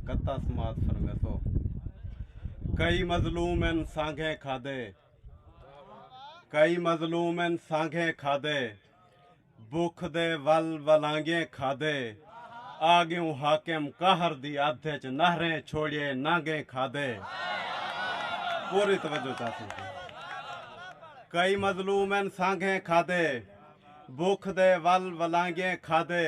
کتا سماعت فرمے سو کئی مظلوم ان سانگھے کھادے کئی مظلوم ان سانگھے کھادے بکھ دے ول ولانگے کھادے آگیوں حاکم قہر دی ادھ وچ نہریں چھوڑیے نانگے کھادے پوری توجہ چاہتے ہیں کئی مظلوم ان سانگھے کھادے بکھ دے ول ولانگے کھادے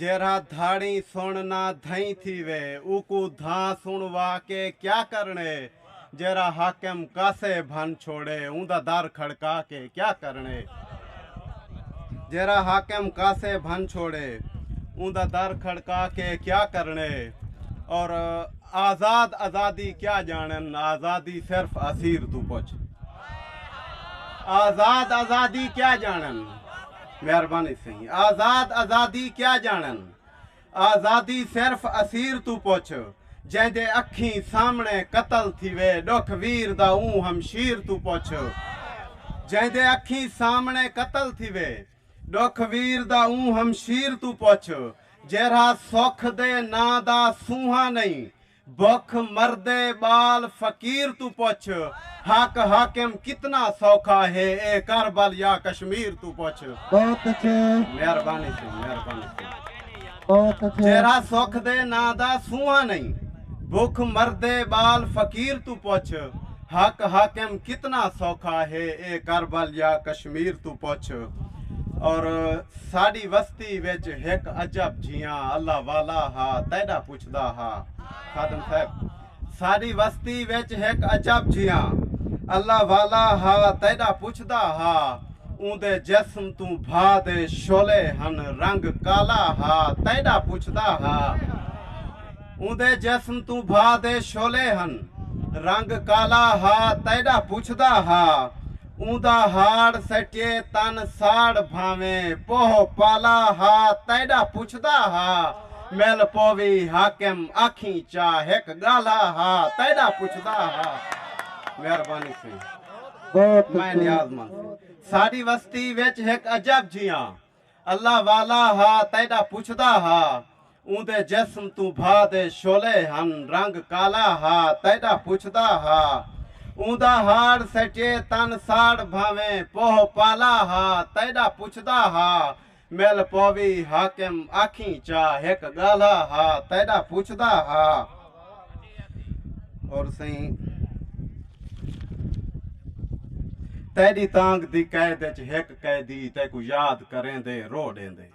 جیرھا دھاڑیں سݨ نہ دھئیں تھیوے اوکوں دھاں سݨوا کے کیا کرݨے جیرھا حاکم کاسے بھن چھوڑے اوندا در کھڑکا کے کیا کرݨے جیرھا حاکم کاسے بھن چھوڑے اوندا در کھڑکا کے کیا کرݨے اور آزاد آزادی کیا جانن آزادی صرف اسیر توں پچھ آزاد آزادی کیا جانن مہربانی سئیں آزاد آزادی کیا جانن آزادی صرف اسیر توں پچھ جیں دے اکھیں سامنے قتل تھیوے ڈکھ ویر دا اوں ہمشیر توں پچھ جیں دے اکھیں سامنے قتل تھیوے ڈکھ ویر دا اوں ہمشیر توں پچھ جیرھا سکھ دے ناں دا سونہاں نئیں بکھ مردے ٻال فقیر توں پچھ حق حاکم کتنا سوکھا ہے اے کربل یا کشمیر توں پچھ۔ بہت اچھے۔ مہربانی سئیں مہربانی سئیں جیرھا سکھ دے ناں دا سونہاں نئیں بکھ مردے ٻال فقیر توں پچھ حق حاکم کتنا سوکھا ہے اے کربل یا کشمیر توں پچھ اور ساڈی وستی وچ ہک عجب جھیاں اللہ والا ہا تیڈا پچھدا ہا خادم صاحب ساݙی وستی وچ ہک عجب جیہاں اللہ والا ہا تیݙا پچھدا ہا اوندے جسم توں بھا دے شعلے ہن رنگ کالا ہا تیݙا پچھدا ہا اوندے جسم توں بھا دے شعلے ہن رنگ کالا ہا تیݙا پچھدا ہا اوندا ہاڑ سٹیے تن ساڑ بھانویں پوہ پالا ہا تیڈا پچھدا ہا مل پووی حاکم آکھیں چا ہک گالھا ہا تیڈا پچھدا ہا مہربانی سیں میں نیاز مند سیں ساڈی وستی وچ ہک عجب جیاں اللہ والا ہا تیݙا پچھدا ہا اوندے جسم توں بھا دے شعلے ہن رنگ کالا ہا تیݙا پچھدا ہا اوندا ہاڑ سٹیے تن ساڑ بھانویں پوہ پالا ہا تیݙا پچھدا ہا مل پووی حاکم آکھیں چا ہک ڳالھا ہا تیݙا پچھدا ہا۔ اور سائیں تیری تانگ دی قید وچ ہک قیدی تیکو یاد کریں دے رو ڈیں دے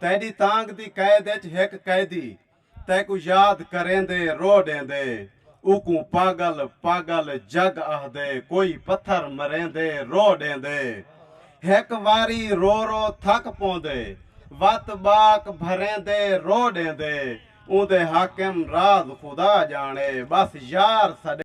تیری تانگ دی قید وچ ہک قیدی تیکو یاد کریں دے رو ڈیں دے اوکوں پاگل پاگل جگ آہ دے کوئی پتھر مریں دے رو ڈیں دے ہک واری رو رو تھک پوندے وت باک بھریں دے رو ڈیں دے اوندے حاکم راز خدا ڄاݨے ٻس یار سݙے۔